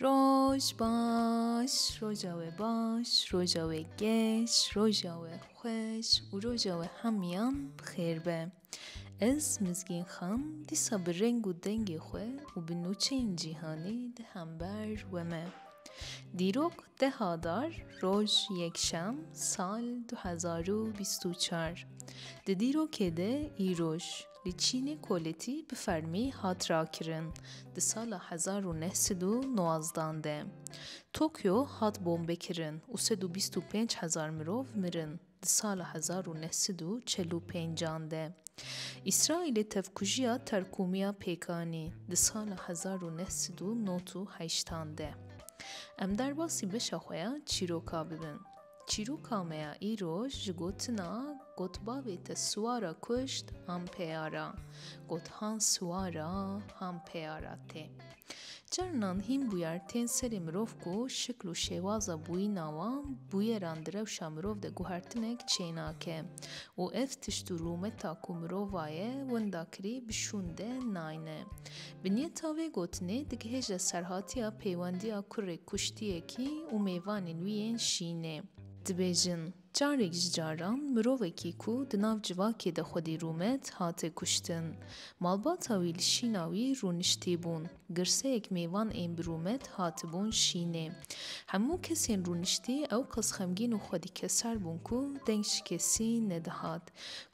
Roj baş, roja we baş, roja we geş, roja we xweş û roja we hemiyan bi xêr be. Ez Mizgîn Xan dîsa bi reng û dengê xwe û bi nûçeyên cîhanê di hember we me. Dîrok Deh Adar, roj yekşem, sal du hezar û bîst û çar Di dîrokê de îroj li Çînê koletî bi fermî hat rakirin. Di sala hezar û neh sed û nozdan de Tokyo hat bombekirin û sed û bîst û pênc hezar mirov mirin. Di sala hezar û neh sed û çel û pênc an de Îsraîlê tevkujiya terkûmiya pêk anî. Di sala hezar û neh sed û nod û heşt an de em derbasî beşa xwe ya çîroka bibin. Çîroka me ya îro ji gotina Gotbavê te siwara kuşt han peyara, got han siwara han peyara tê. Carinan hîn bûyer tên serê mirov ku şikl û şêwaza bûyîna wan bûyeran di rewşa mirov de guhertinek çênake û ev tişt û rûmeta ku mirova ye winda kirî bi şûn de nayne. Binyeta vê gotinê digihêje serhatiya pêwendiya kurê kuştiyekî û mêvanên wî yên şînê. Dibêjin. Carek ji caran mirovekî ku di nav civakê de xwedî rûme dihate kuştin. Malbata wî li şîna wî rûniştî bûn. Girseyek mêvan ên bi rûme dihatibûn şînê. Hemû kesên rûniştî ew qas xemgîn û xwedîkeser bûn ku deng ji kesî nedihat.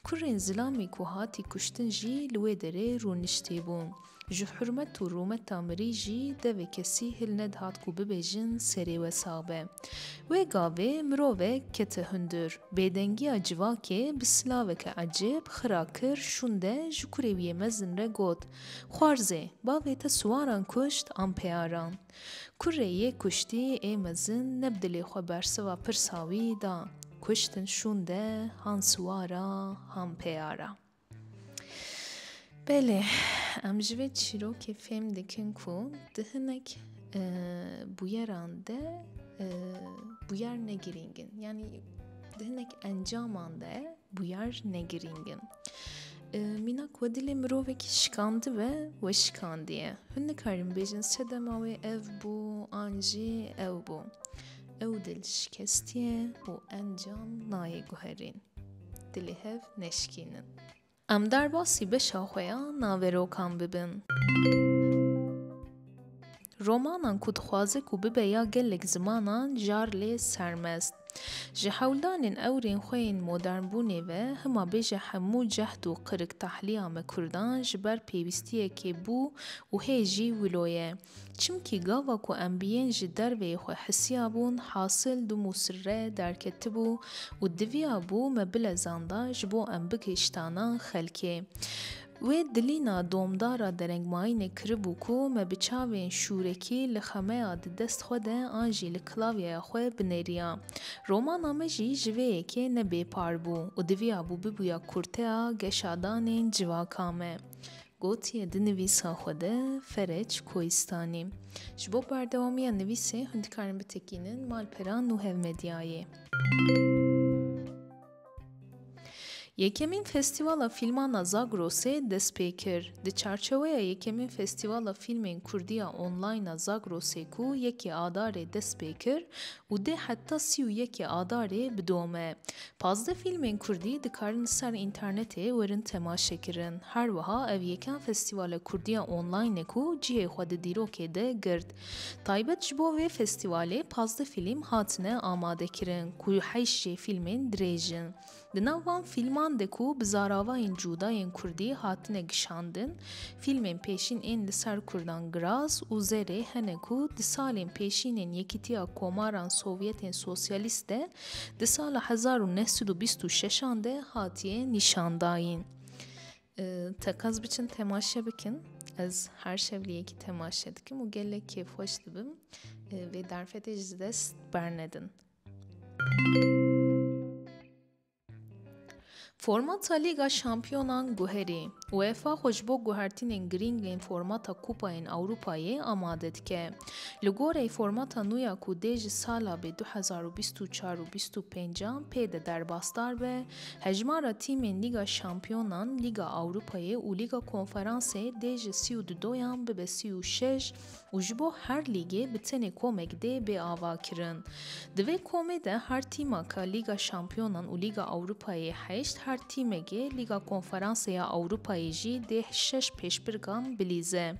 Kurên zilamê ku hatî kuştin jî li wê derê rûniştî bûn. Ji hurmet û rûmeta mirî jî devê kesî hil nedihat ku bibêjin serê we sax be. Wê gavê mirovek kete hundir. Bêdengiya civakê bi silaveke ecêb, xira kir, şûnde ji kurê wî yê mezin re got, Xwarzê, bavê te siwaran kuşt an peyaran? Kurê yê kuştî ê mezin ne bi dilê xwe bersiva pirsa wî da, Kuştin şûnde han siwara han peyara. Belê, em ji vê çîrokê fêm dikin ku di hinek e, bûyeran de e, bûyer negirîngin. Yanî di hinek encaman de bûyer negirîngin. E, mînak we dilê mirovekî şikandi ve we şikandiye. Hûn nikarin bêjin sedema wê ev bû an jî ew bû. Ew dil şikestiye û encam nayê guherîn. di li hev neşikînin. Em derbasî beşa xwe ya naverokan bibin. Romanan ku dixwaze ku bibe ya gelek zimanan jar lê sermest. Ji hewldanên ewrên xwe yên modernbûnê ve hima bêje hemû cehd û qirik tahliya me kurdan ji ber pêwîstiyekê bû û hê jî wilo ye. Çimkî gava ku em bi yên ji derveyê xwe hisiyabûn hasil du mûsir re derketibû û diviya bû me bilezanda ji bo em bigihiştana xelkê. Wê dilîna domdara derengmayînê kiribû ku me bi çavên şûrekî li xemeya di dest xwe de an jî li klavyeya xwe binêriya. Romana me jî ji vê yekê ne bêpar bû û diviya bû bibûya kurteya geşadanên civaka me. Gotiye di nivîsa xwe de Fereç Koistanî. Ji bo berdewamiya nivîsê hûn dikarin bitekînin malpera Nuhev Medyayê. Yekemîn Festîvala Fîlman a Zagrosê dest pê kir. Di çarçeweya yekemîn Festîvala Fîlmên Kurdî ya Online a Zagrosê ku yekê Adarê dest pê kir, û dê heta sî û yekê Adarê bidome. Pazdeh fîlmên kurdî dikarin li ser înternetê werin temaşekirin. Her wiha ev yekem festîvala kurdî ya online e ku cihê xwe di dîrokê de girt. Taybet ji bo vê festîvalê pazdeh fîlm hatine amadekirin ku heyşt jê fîlmên dirêj in. Di nav van fîlman de ku bi zaravayên cuda yên kurdî hatine kişandin, fîlmên pêşîn ên li ser kurdan Graz û Zerê hene ku di salên pêşîn ên Yekîtiya Komaran Sovyetên Sosyalîst de di sala hezar û neh sed û bîst û şeşan de hatiye nîşandayîn. Teqez biçin temaşe bikin. Ez her şev li yekî temaşe dikim û gelek kêfxweş dibim. Vê derfetê ji dest bernedin. Formata Lîga Şampiyonan guherî. UEFA xwe ji bo guhertînên girîng ên formata Kupayên Ewropayê amade dike. Li gorî formata nû ya ku dê ji sala bê 2024 û 25 an pê de derbasdar be, hejmara tîmên Lîga Şampiyonan, Lîga Ewropayê û Lîga Konferansê dê ji 32 yan bibe 36 û ji bo her lîgê bi tenê komek dê bê avakirin. Di vê komê de her tîmaka Lîga Şampiyonan û Lîga Ewropayê heşt, her tîmekê Lîga Konferansê ya Ewropayê jî dê şeş pêşbirkan bilîze.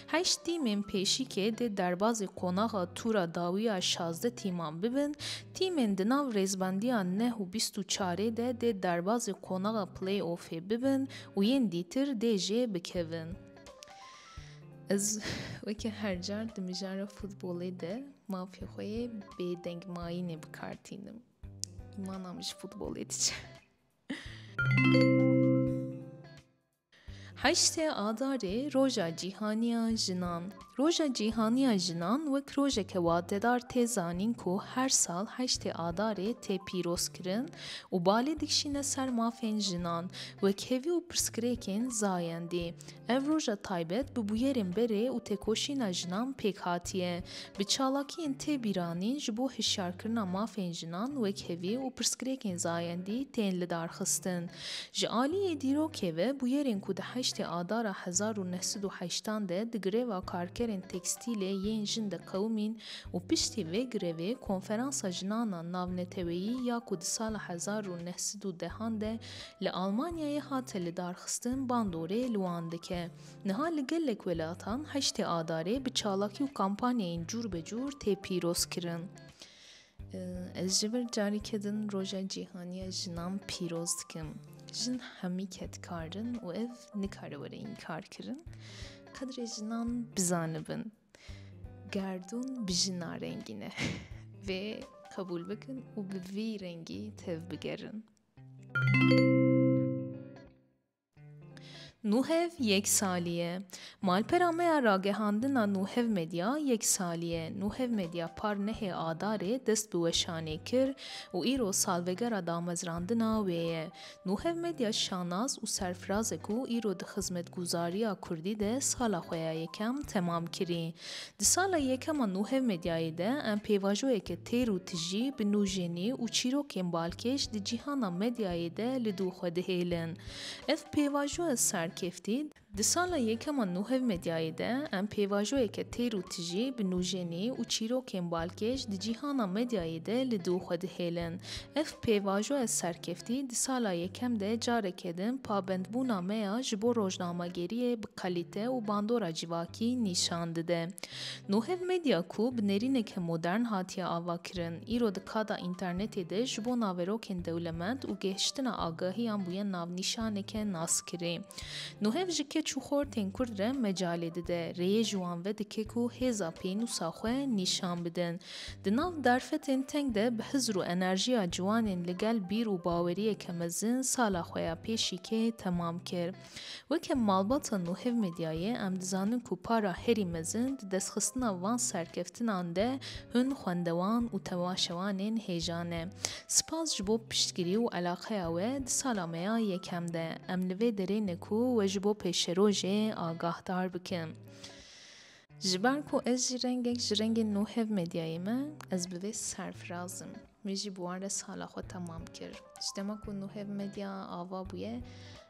Heşt tîmên pêşîkê dê derbazê qonaxa tûra dawî ya şazdeh tîman bibin, tîmên di nav rêzbendiya neh û bîst û çarê de dê derbazê qonaxa play-offê bibin û yên dîtir dê jê bikevin. Ez weke her car di mijara futbolê de mafê xwe yê bêdeng mayînê bi kar tînim. Îmana min ji futbolê diçe. Heştê Adarê Roja Cîhaniya Jinan Roja Cîhaniya Jinan wek rojeke watedar tê zanîn ku her sal heştê Adarê tê pîrozkirin û balê dikişîne ser mafên jinan wek hêvî û pirsgirêkên zayendî. Ev roja taybet bi bûyerên berê û têkoşîna jinan pêk hatiye. Bi çalakiyên tê bîranîn ji bo hişyarkirina mafên jinan wekhevî û pirsgirêkên zayendî tên lidarxistin. Ji aliyê dîrokê ve bûyerên ku di heştê adara hezar û neh sed û heştan de di greva karkerên tekstîlê yên jin de qewimîn û piştî vê grevê Konferansa Jinana Navneteweyî ya ku di sala hezar û neh sed û dehan de Li Almanyayê hate lidarxistin bandorê li wan dike. Niha li gelek welatan heştê Adarê bi çalakî û kampanyayên cûrbecûr tê pîrozkirin. Ez ji vir carîke din Roja Cîhaniya Jinan pîroz dikim. Jin hemî kedkarin û ev nikare were înkarkirin. Qedrê jinan bizanibin. Gerdûn bi jina rengîne. Vê qebûl bikin û bi vî rengî tev bigerin. Nuhev yek salî ye. Malpera me ya ragihandina Nuhev Medya yek salî ye. Nuhev Medya par nehê Adarê dest bi weşanê kir û îro salvegera damezrandina wê ye. Nuhev Medya şanas û serfiraz e ku îro di xizmetguzariya kurdî de sala xwe ya yekem temam kirî. Di sala yekema nû hevmedyayê de em pêvajoyeke têr û tijî bi nûjenî û çîrokên balkêş di cîhana medyayê de li dû xwe dihêlin. Ev pêvajoya serkeftî, Di sala yekema nû hevmedyayê de em pêvajoyeke têr û tijî bi nûjenî û çîrokên balkêş di cîhana medyayê de li dû xwe dihêlin. Ev pêvajoya serkeftî di sala yekem de careke din pabendbûna me ya ji bo rojnamegeriyê bi kalîte û bandora civakî nîşan dide. Nuhev Medya ku bi nêrîneke modern hatiye avakirin, îro di kada înternetê de ji bo naverokên dewlemend û gihiştina agahiyan bûye navnîşaneke naskirî. Nuhev ji keç û xortên Kurd re mecalê dide, rêyê ji wan vedike ku hêza pênûsa xwe nîşan bidin. Di nav derfetên teng de bi hizr û enerjiya ciwanên li gel bîr û baweriyeke mezin sala xwe ya pêşîkê temam kir. Weke malbata Nuhev Medyayê em dizanin ku para herî mezin di destxistina van serkeftinan de hûn xwendewan û tevaşewanên hêja ne. Spas ji bo piştgirî û elaqeya we di sala me ya yekem de. Em li vê derê ne ku we ji bo pêşerojê agahdar bikin. Ji ber ku ez jî rengek ji rengên Nuhev Medyayê me, ez bi vê serfiraz im. Min jî bi wan re sala xwe temam kir. Ji dema ku Nuhev Medya ava bûye,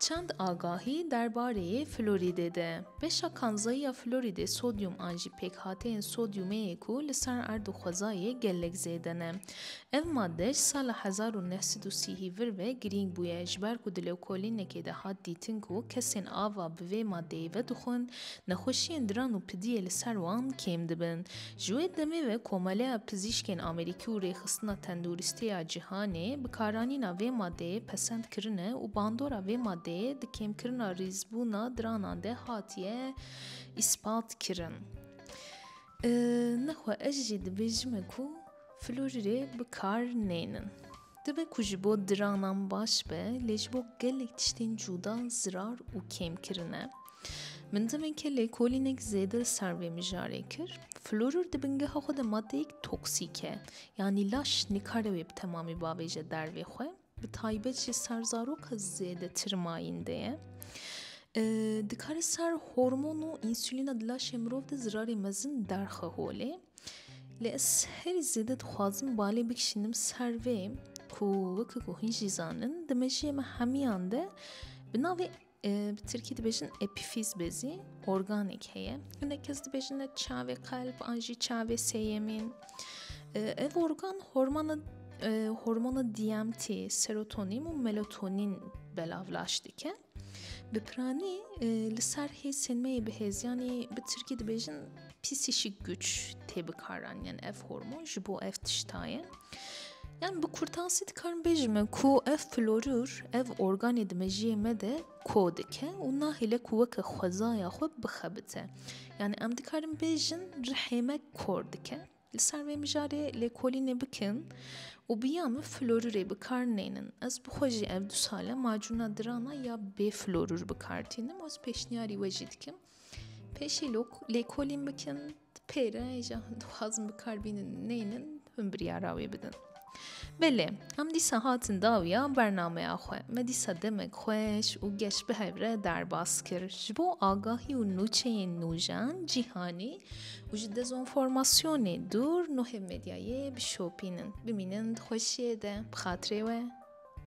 Çend agahî derbarê florîdê de. Beşa kanzayî ya florîdê sodyum an jî pêkhateyên sodyumê ye ku li ser erd û xwezayê gelek zêde ne. Ev made ji sala hezar û neh sed û sî hîvir ve girîng bûye ji ber ku di lewkolînekê de hat dîtin ku kesên ava bi vê madeyê vedixwin, nexweşiyên diran û pidiyê li ser wan kêm dibin. Ji wê demê ve Komeleya Pizîşkên Amerîkî û Rêxistina Tenduristî ya Cîhanê bikaranîna vê madeyê pesend kirine û bandora vê madeyê di kêmkirina rîzbûna diranan de hatiye îspat kirin. Nexwe ez jî dibêjime ku Florîrê bi kar nênin. Dibe ku ji bo diranan baş be lê ji bo gelek tiştên cûda zirar û kêm kirine. Min demeke lêkolînek zêde li ser vê mijarê kir. Florur di bingeha xwe de madeyek toksîk e. Yanî laş nikare wê bi temamî bavêje dervê xwe. Bi taybet jî ser zaroka zêdetir mayînde ye. Dikare ser hormon û insûlîna di laşê mirov de zirarê mezin derxe holê. Lê ez herî zêde dixwazim balê bikişînim ser vê ku weke ku hûn jî zanin di mejiyê me hemiyan de bi navê Bi Tirkî dibêjin epîfîz bezî organêk heye. Hinek kes dibêjin ne çavê qelb an jî çavê sêyemîn. Ev organ hormona hormona DMT, serotonîn û melotonîn belavlaş dike. Bi piranî li ser hêzên me yê bihêziyanî bi Tirkî dibêjin psîkîk güç tê bikaran yan ev hormon ji bo ev tiştayê. Yan bi kurtansî dikarin bêjime ku ev florür ev organê di mejiyê me de ko dike û nahêle ku weke xwezaya xwe bixebite. Yani em dikarin bêjin rihê me kor dike. Li ser vê mijarê lêkolînê bikin û biya min florürê bikar nênin. Ez bi xwe jî ev du sale macûna dirana ya bê florür bikar tînim ez pêşniyarî we jî dikim. Pêşî lêkolîn bikin pêre ji dixwazin bikar bînin neynin hûn biryara wê bidin. Belê em dîsa hatin dawiya bernameya xwe me dîsa demek xweş û geş bi hevre derbas kir ji bo agahî û nûçeyên nûjan cîhanî û ji dezonformasyonê dûr nuhê medyayê bişopînin bimînin xweşiyê de bi xatirê we.